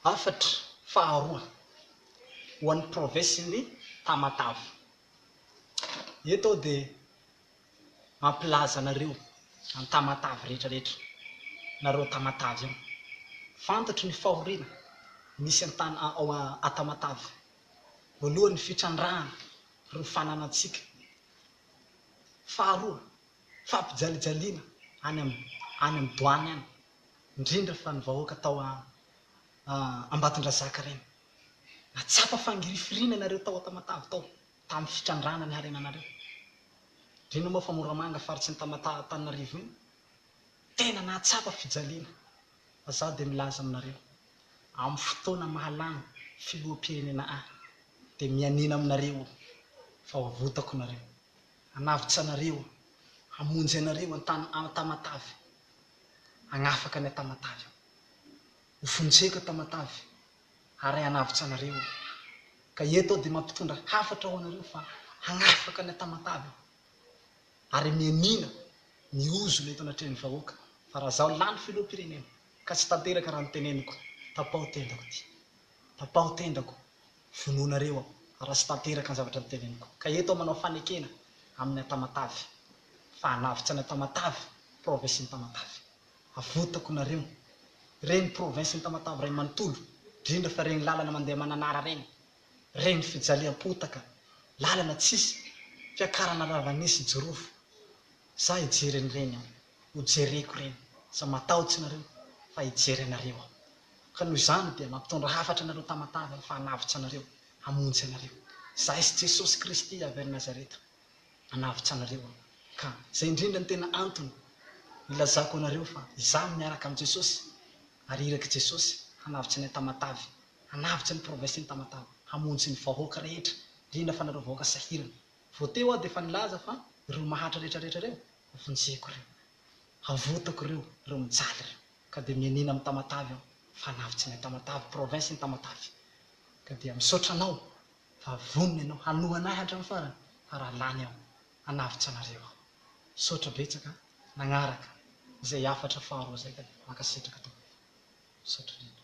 Hafatra faharoa ho an'ny provesin'i Tamatave. Eto aho dia mampilaza anareo an'i Tamatave rehetra rehetra, nareo Tamatave io. Fantatro ny fahoriana misy an-tany ao Atamatave. Voalohany ny fitrandrahana ireo fananantsika. Faharoa, fampijalijaliana any amin'ny any amin'ny douane any. indrindra fa ny vahoaka tao Ambatondrazaka ireny. Nahatsapa fangirifiriana ianareo tao Tamatave tao, tamin'ny fitrandrahana ny harenanareo. Indrindra moa fa Moramanga faritry ny Tamatave Antananarivo iny, tena nahatsapa fijaliana. Fa izaho dia milaza aminareo, amin'ny fotoana mahalany filoham-pirenena ahy, dia mianiana aminareo aho, fa ho avotako nareo. Hanavotra anareo aho, hamonjy anareo an-tany Tamatave, hagnafaka ny an-tamatavy aho. Ho fonjeko an-tamatavy ary hanavotra anareo aho. Ka eto aho dia mampitondra hafatra ho anareo fa hagnafaka ny an-tamatavy aho. Ary mianiana ny ozona eto anatrehan'ny vahoaka fa raha izaho lany filoham-pirenena ka tsy tanteraka raha noteneniko, tapaho tendako ity. Tapaho tendako. vonoanareo aho raha tsy tanteraka ny zavatra noteneniko ka eto aho manao fanekena amin' ny Antamatave fa hanavotra an' Antamatave, provinsin' Tamatave. Avotako nareo. Reny provinsin' Tamatave ray manontolo, drindra fa reny lalana mandeha Mananara reny, reny fijaliam-potaka, lalana tsisy, fiakarana ravanisy, jirofo. Za hijery an'ireny an! Ho jereko ireny! Za matahotsy nareo fa hijery anareo aho. Ka noho izany dia mampitondra hafatra anareo Tamatave aho fa hanavotsy anareo, hamonjy anareo. Izahay sy Jesosy Kristy avy any Nazareta hanavotsy anareo aho. Ka izay indrindra no tena antony ilazako anareo fa izaho miaraka amin'i Jesosy ary irak'i Jesosy hanavotsy anay Tamatave, hanavotsy ny province-n'i Tamatave, hamonjy ny vahoaka rehetra, indrindra fa anareo vahoaka sahirana. Vao teo aho dia efa nilaza fa ireo mahantra rehetra rehetra ireo hovonjeko ireo. Havotako ireo, ireo mijaly ireo. Ka dia mianiana amin'i Tamatave aho. Fanavo tsy main Tamatave, province iny Tamatave. Ka dia misaotra anao fa vonona ianao hanoa an'ahy hatramin'ny farany fa raha lany aho, hanavotra anareo aho. Misaotra betsaka an! Nagnaraka izay hafatra faharoa izay ka dia mankasitraka tompoko. Misaotra indrindra.